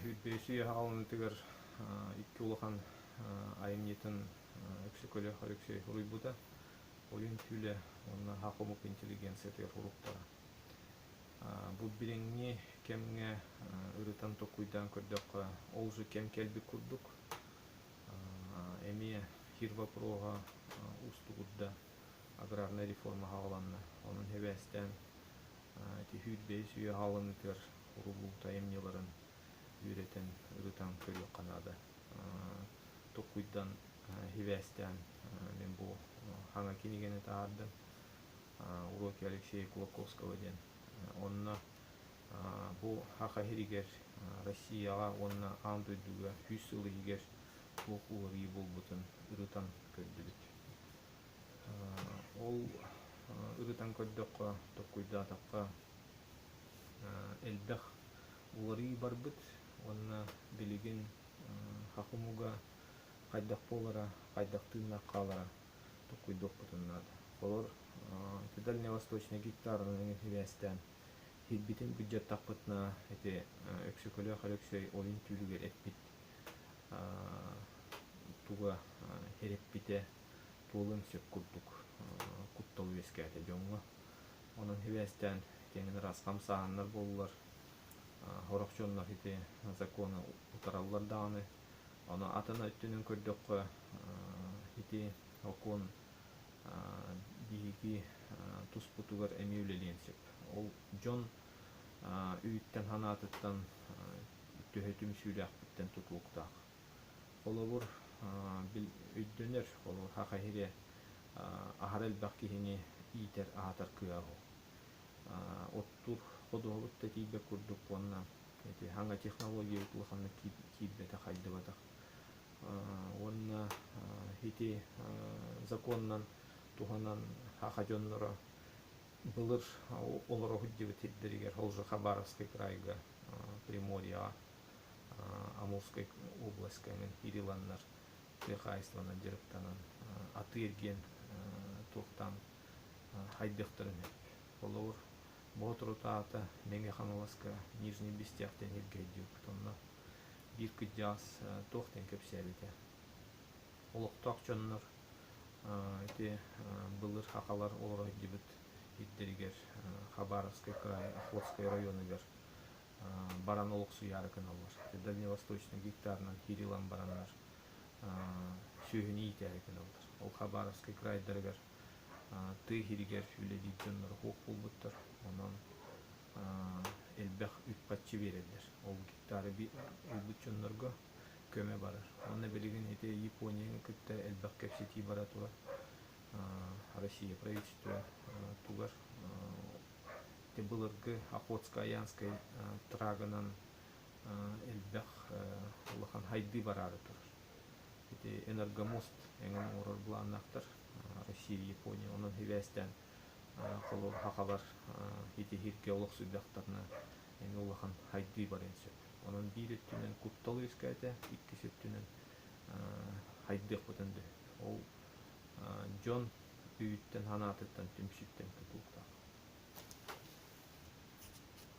Сүүрбэсий аһаҕаланыытыгар икки улахан айымньытын Өксөкөлөөх Алексей суруйбута, Ойуун Түүлэ уонна Аһа хомук интеллигенциятыгар уруһуктара. Бу билиҥҥи кэмҥэ ырытан толкуйдаан көрдөххө, ол же кэм кэлбит курдук. Эмиэ сир вопроһа уустугурда. аграрнай реформа саҕаланна. Онон сибээстээн түһүүр бэйис үйэ аһалынытыгар урулуута айымньыларын үөрэтэн, ырытан көрүөххэ наада. Токуйдан сибээстээн мин бу саҥа кинигэни таһаардым. Уроки Алексея Кулаковского диэн. Онно бу саха иһигэр Россияҕа уонна аан дойдуга сүүс сыл иһигэр туох уларыйыы буолбутун ырытан көрдүбүт. Ол ырытан көрдөххө, толкуйдаатахха элбэх уларыы барбыт уонна билигин хак омуга хайдах буолара, хайдах тыыннаах хаалара толкуйдуохпутун наада. Олор ити дальневосточный гектарынан сибээстээн иһирбитин бюджеттахпытына ити Өксөкүлээх Өлөксөй ойун түүлүгэр эппит туга эрэппитэ буолуон сөп курдук куттал үөскээтэ дьоҥҥо. Онон сибээстээн итиэнэн ыраас хамсааһыннар буоллулар. Сорох дьоннор ити законы утараллар даҕаны. Ону атын өттүнэн көрдөххө ити сокуон биһиги туспутугар эмиэ үлэлиэн сөп. Ол дьон Үүттэн-санаатыттан төһө түмсүүлээхпиттэн тутууктаах. Холобур, өйдөнөр, холобур, хахиһире аһара элбэх киһини иитэр, аһатар кыаҕа уһу. Оттур ходуһабыт да тиийбэт курдук уонна ити хаҥа технологиябыт улаханнык киирбэтэх, хайдыбатах. Уонна ити законунан туһанан хаха дьонноро Былыр олороһут дьыбыт сирдэригэр Олжаха Баровскай кыраайга, Приморьеҕа, Амурскай областькаҥын Кирилланнар тыа хаһайыстыбанан дьарыктанан атыыр диэн туохтаан хайдыахтарын сөп. Холобур, Боотурут аата Мэҥэ Хаҥаласка Нижний Бестях диэн сиргэ өйдүүрбүт. Онно биир кырдьаҕас туох диэн кэпсээбитэ. олохтоох дьоннор ити былыр сахалар олоройдубут ирдэригэр Хабаровскай кыраайы Охлопскай оройуонугар баран олохсуйаары гыналлар. Ити дальневосточнай гектарынан кириллан бараннар сүөһүнү иитээри гыналлар. Ол Хабаровскай кыраайдарыгар тыа иһигэр үлэлиир дьоннор уһук булбуттар. Онон элбэх үп-харчы биэрэллэр. Ол гектары ылбыт дьоннорго көмө барар. Уонна билигин ити Японияны кытта элбэх кэпсэтии бара турар. Россия правительство тугар былыргы Охотско-Аянскай трагынан элбэх улахан хайдыы бараары турар. Ити энергомост эҥин оҥорор былааннаахтар Россия, Япония. Онон хибээстээн холуобаһа хабар итиһиргэ олохсуйдахтарына Эн улахан хайдыы барыан сөп. Онон биир өттүнэн куттал үөскээтэ, иккис өттүнэн хайдыахпытын дөһө. Ол дьон өйүттэн-санаатыттан, түмсүүттэн тутуохтаах.